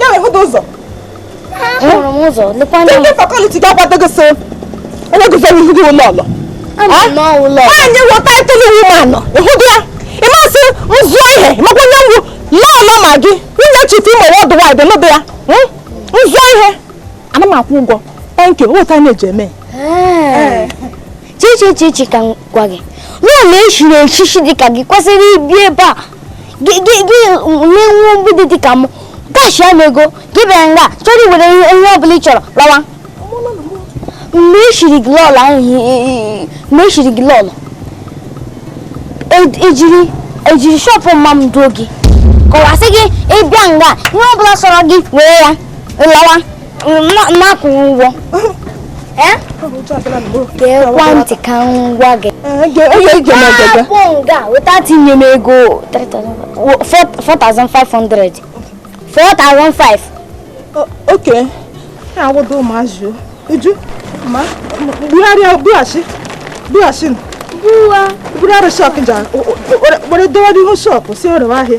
ya wee hụda ụzọ ahụrụ m ụzọ lekwa anya ndị fakọliti ga-agbado gị so onye gụzọ n'ihu gị lọọlọ anyị wụ title woman nọ ịhụdụ ya ị ma sị m zụọ ihe makwa onye m wụ lọọlọ Maggi nwunye Chief Imo worldwide nụdụ ya m zụọ ihe ana m akwụ ụgwọ thank you wọta na-eji eme chichichichi ka m gwa gị lọọlọ e chiri echichi dịka gị kwesịrị ibi ebe a gị gị gị na-enwe obi dị ka m kashi ya m ego gị bịa nga chọrọ iwere ihe ọbụla ị chọrọ lawa mgbe e shiri gị lọọlọ ahụ i- i- i- mgbe e shiri gị lọọlọ e- ejiri ejiri shọpụ mma m duo gị kọwasị gị ịbịa nga ihe ọbụla sọrọ gị were ya lawa na-akwụghị ụgwọ gekwa ntị ka m gwa gị na-akpọ nga weta tinye m ego 4500 4500 okay na-agwado ụmụazị uju ma bugharịa bughachi bughachi bugharị shọp ja were dọwa n'ihu shọp sị ọ rewa ahịa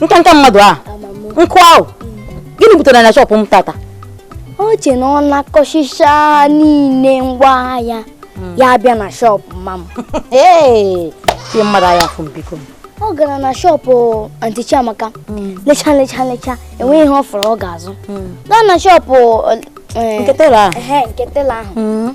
nkanka mmadụ a nke ahụ gịnị butere na shọpụ m tata o che na ọ na-akọchicha niile ngwa ahịa hmm. ya bịa na shọpụ mma m ee ihe mmadụ a hafụ m biko ọ gara na shọpụ anti Chiamaka hmm. lecha lecha lecha enweghị ihe ọ fụrụ ọ ga-azụ hmm. gaa na shọpụ eh, eh, nke tela ahụ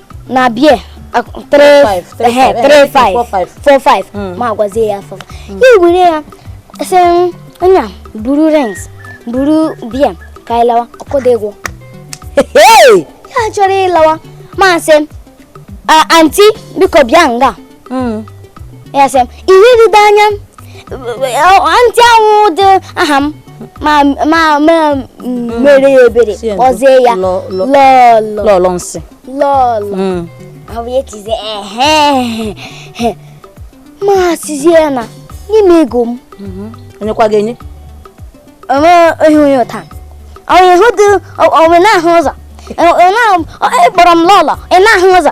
na bia 3-5 hmm. mụ agwazie ya 4 hmm. ya were ya sị nna buru rings buru bia ka anyị lawa ọ kwụdịghị ego ya chọrọ ịlawa mụ asị anti biko bịa nga hmm. ya sị m ihe ride anya anti awụdị aha m ma ma ma hmm. mere ya ebere kpọzie ya lọlọ lọlọ nsị lọlọ hmm. ọ bụ ya tizie ehe mụ asịzie na nye m ego m mhm. onyekwa gị enye onwe ihe onye ụta onye hụ dị onwe na-ahụ ụzọ ịkpọrọ m lọlọ ị na-ahụ ụzọ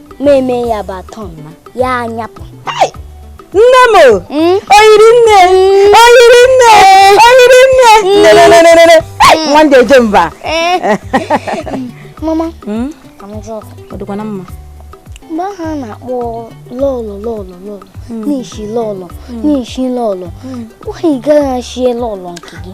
mụ emee ya bụ atọ ya anyapụ nne m hmm? oyiri nne hmm? oyiri nne hmm? oyiri nne nwa ndị eje mba eh. mama ọ dịkwa na mma mgbe ahụ a na-akpọ lọlọ lọlọ lọlọ n'ishi lọlọ n'ishi lọlọ nwaanyị gaa shie lọlọ nke gị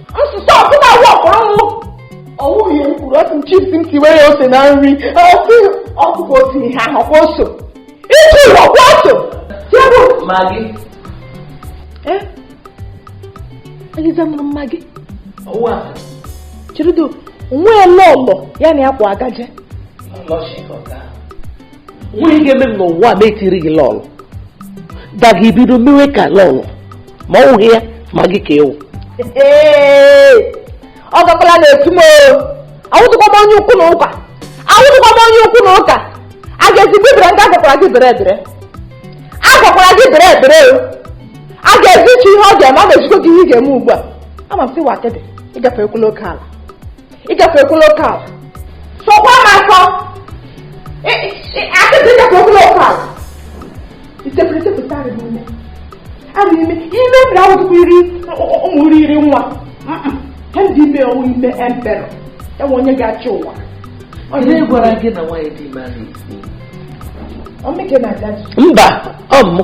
nsụsụ ọbụla wụ ọkpọrọ nwụ ọwụghị m kwuru otu m chips m tiwe ya ose na nri ọsị ọkụkọ otu ihe ahụ ọkwa oso ịtụ ụlọ ọkwa oso tiebụ Maggi Eh? Eliza Maggi ọwụ a chirido onwe ya lọlọ ya na ya kwa agaje lọchị ka ọ gaa onweghị ihe ga-eme m n'ụwa ma e tiri gị lọlọ da gị bido mewe ka lọlọ ma ọ wụghị ya Maggi ka ị wụ ọ gakwala na-etu m awụtụkwa m onye ukwu na ụka awụtụkwa m onye ukwu na ụka a ga-ezigbo ibere nke agwakwara gị bere ebere agwakwara gị bere ebere o a ga-ezi chi ihe ọ ga-eme a na-ejikọ gị ihe ị ga-eme ugbu a ama m sị wakede ịgafe ekwu local ịgafe ekwu local sọkwa m akọ akịtị ịgafe ekwu local itepụrụ itepụta arị n'ime arị n'ime ime mere ahụ tupu iri ụmụ iri iri nwa ha ndị ime ọ wụ ime emperor enwe onye ga-achị ụwa Onye gwara gị na nwaanyị dị ime ahụ isi. ọmịke na-aga mba ọ bụ mụ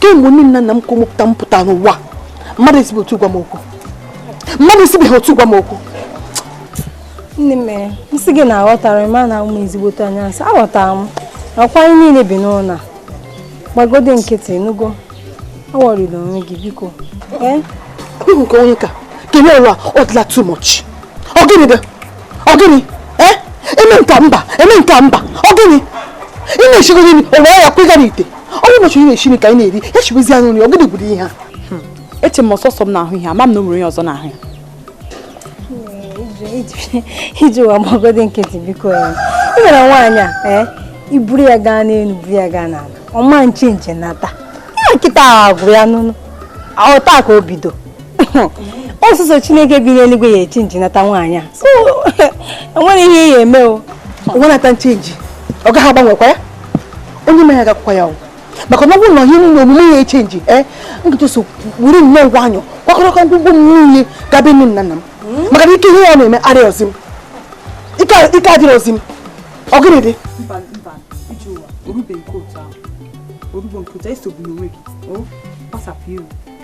kemgbe nne na nna m ka mụpụta m pụta n'ụwa mmadụ esibe otu a gwa m okwu mmadụ esibeghị otu a gwa m okwu nne m mere nsị gị na-aghọtara m a na ụmụ ezigbote anya nsị aghọtara m ọkwa anyị niile bi n'ụlọ gbagode nkịtị nugo aworryla onwe gị biko ee nke onye ka kele ụwa ọ dịla too much ọ gịnị dị ọ gịnị ee eme nka mba eme nka mba ọ gịnị ị na-echegoro imi ụwa ya kwega n'ite onye ụbọchị onye na-esi ka anyị na-eri ya chibuzi anyị nri ọ gịnị gwuru ihe ha hmm. eche m ọ sọsọ m na-ahụ ihe ama m na o nwere onye ọzọ na-ahụ ya hmm, Ijeụwa gbagodi nkịtị biko ya i were nwaanyị a eh? i buru ya gaa n'elu buru ya gaa n'ala ọ ma nchenji nature ya kịta ahụ gwụrụ ya n'ụlọ ọ taa ka o bido ọ sọsọ chineke bi n'eluigwe ya echenji nature nwaanyị a so enwere ihe ya eme o onwe nature nchenji ọ gaghị agbanwekwa ya onye ma ya gwakwa ya maka na ọ bụrụ na ihe niile omume ya echenji ee kịta so were nnọọ nwayọ kwakọrọkọ ngwugwu m niile gabe nne na nna m hmm? maka na ike ihe ya na-eme arịrọzi m ike adịrọzi m ọ gịnị dị o rube nke otu ahụ o rube nke otu ahụ esogbuna onwe gị kpasapụ iru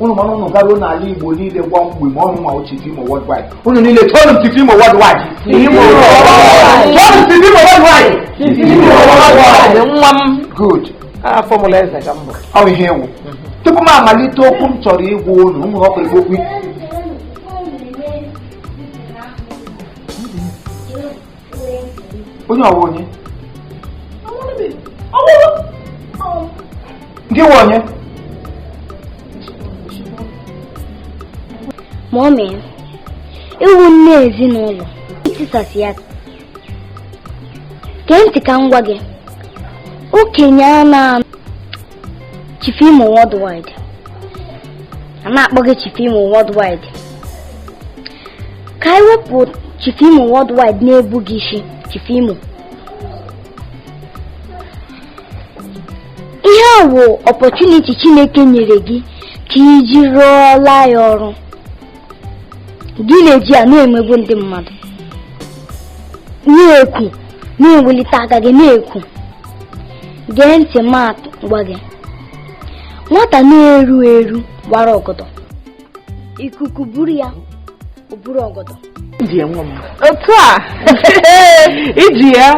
ụnụ ma na ụnụ garuo n'ala igbo niile gwa mgbe ma ọnụ ma Chief imo worldwide ụnụ niile tuonụ m Chief imo worldwide Imo worldwide. tuonụ m Chief imo worldwide Imo worldwide. nwa m good a fọmụla eze ka m bụ ọ bụ ihe ị wụ tupu m amalite okwu m chọrọ ịgwa ụnụ ụmụ nwoke igbo okwu onye ọwa onye gị nwe onye mommy ị wụ nne ezinụlọ i tisasị ya gee ntị ka m gwa gị okenye a na-anọ Chief Imo Worldwide a na-akpọ gị Chief Imo Worldwide ka anyị wepụ Chief Imo Worldwide na-ebu gị isi Chief Imo ihe a wụ opportunity Chineke nyere gị ka i ji rụọla ya ọrụ gị na-eji ya na-emegbu ndị mmadụ na-ekwu na-ewelite aka gị na-ekwu gee ntị ma m gwa gị nwata na-eru eru wara ọgọdọ ikuku buru ya o buru ọgọdọ otu a iji ya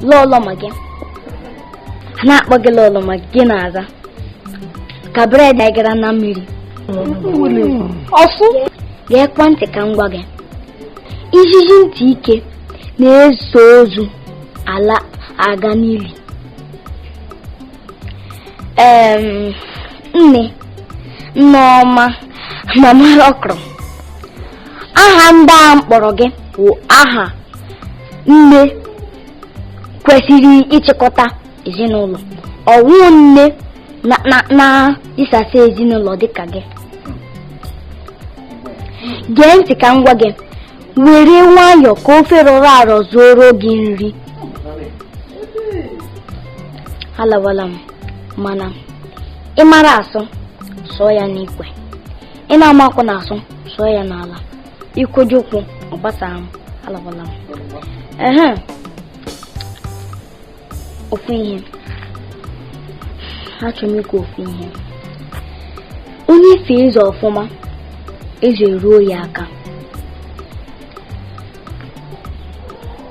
lọlọ ma gị a na-akpọ gị lọlọ ma gị na-aza ka bread anyị gara na mmiri ọkụ geekwa ntị ka m gwa gị ijiji ntị ike na-eso ozu ala aga n'ili nne nneọma mama ọkrọ aha ndị a m kpọrọ gị bụ aha nne kwesịrị ịchịkọta ezinụlọ ọ wụ nne na- na- na-isasa ezinụlọ dịka gị gee ntị ka m gwa gị were nwayọọ ka ofe rọrọ arọ zuoro gị nri alawala m mana ị mara asụ sụọ ya n'ikwe ị na-amakwanụ asụ sụọ ya n'ala ikwoji ụkwụ ọ gbasara m alabala m ehe ofu ihe achọrọ m ikwu ofu ihe onye fee eze ọfụma eze eruo ya aka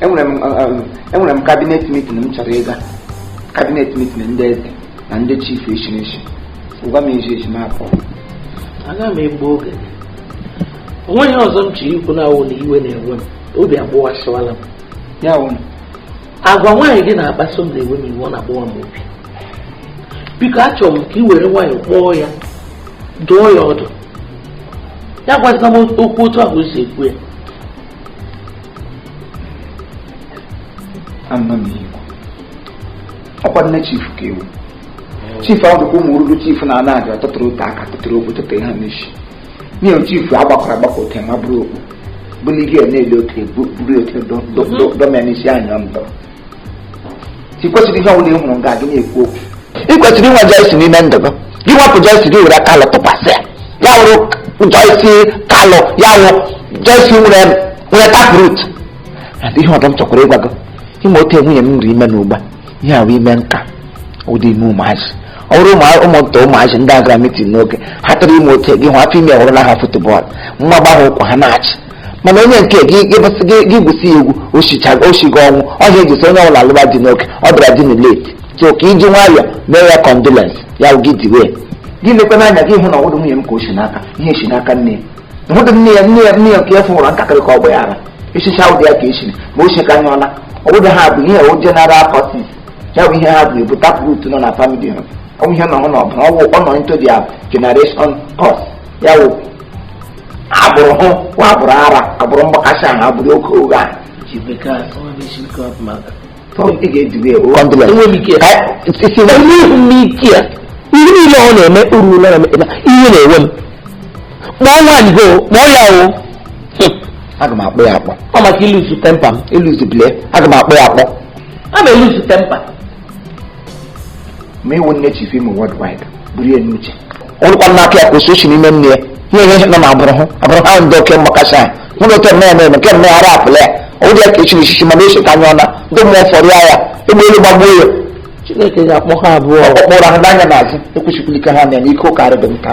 enwere m eh, eh, enwere m cabinet meeting m chọrọ ịga cabinet meeting ndị eze na ndị chief echi n'echi gwa m eji eji m apụ aga m egbu oge o nweghị ihe ọzọ m chọrọ ikwu na-awụ na iwe na-ewe m obi agbawasịwala m ya wụ agwa nwaanyị gị na-akpaso m na-ewe m iwe ọ na-agbawa m obi biko achọrọ m ka ị were nwayọọ kpọọ ya dụọ ya ọdụ ya agwazila m okwu otu ahụ o si ekwu ya ọkwa nne chief ka ị wụ chief ahụ dịkwa ụmụ oruru chief na ana aja tụtụrụ ote aka tụtụrụ okwu tụtụrụ ha n'isi nye chief agbakwara agbakọ ote ma bụrụ okpu bụlirie na-ele ote buru ote dọmịa n'isi anya ndọrọ i kwesịrị ihe ọbụla ị hụrụ nga gị na-ekwu okwu ị kwesịrị inwe Joyce n'ime ndụ gị gị wepụ Joyce gị were Kalu tụkwasị ya ya wụrụ Joyce Kalu ya wụ Joyce nwere nwere tap root adị ihe ọdọ m chọkwara ịgwa gị ime ote nwunye m nri ime n'ugba ihe ahụ ime nka ụdị ime ụmụazị ọ bụrụ ụmụ- ụmụnta ụmụazị ndị gara mitin n'oge ha tụrụ ime ote gị hụ afọ ime hụrụ na ha football nwa gbahụ ụkwụ ha na-achị mana onye nke gị gị bụsị gị gị gwụsị ya egwu oshichaga oshiga ọ wụ ihe eji sị onye ọbụla alụba di n'oge ọ bịara di na late so ka iji nwayọọ mee ya condolence ya wụ gị diwe ya. gị lekwa n'anya gị hụ na ọwụdụ nwunye m ka o si n'aka ihe si n'aka nne ya nwụdụ nne ya nne ya nne ya nke ya fụwara ntakịrị ka ọ gba ya ara echicha ụdị ya ka esi ma o si ka anya ọla ọwụdụ ha bụ ihe o general curses ya bụ ihe ha bụ ebu tap root nọ na family ha ọwụ ihe nọ hụ na ọbụla ọwụ ọ nọ into their generation curse ya wụ agbụrụ hụ nwa agbụrụ ara agbụrụ mgbakasị ahụ agbụrụ oke oge ahụ ihe niile ọ na-eme uru ụlọ na-eme ihe na-ewe m kpọọ nwaanyị go kpọọ ya o aga m akpọ ya akpọ ọ maka ilose temper m ilose bile aga m akpọ ya akpọ a ma elose temper ma ị wụ nne chief imo worldwide buru ya n'uche ọrụkwa n'aka ya ka osi osi n'ime nne ya ihe ihe nọ na agbụrụ hụ agbụrụ ha ndị oke mgbakasị anyị nwere otu eme eme nke mme ara apụla ya ọwụdị ya ka echiri echichi mana eso ka anya ọna ndị mmụọ fọrọ ya ya egbe elu gbagbuo ya chineke ga-akpọ ha abụọ ọkpọrọ ha n'anya n'azụ ekwesịkwala ike ha na ya na ike ụka arịdị nka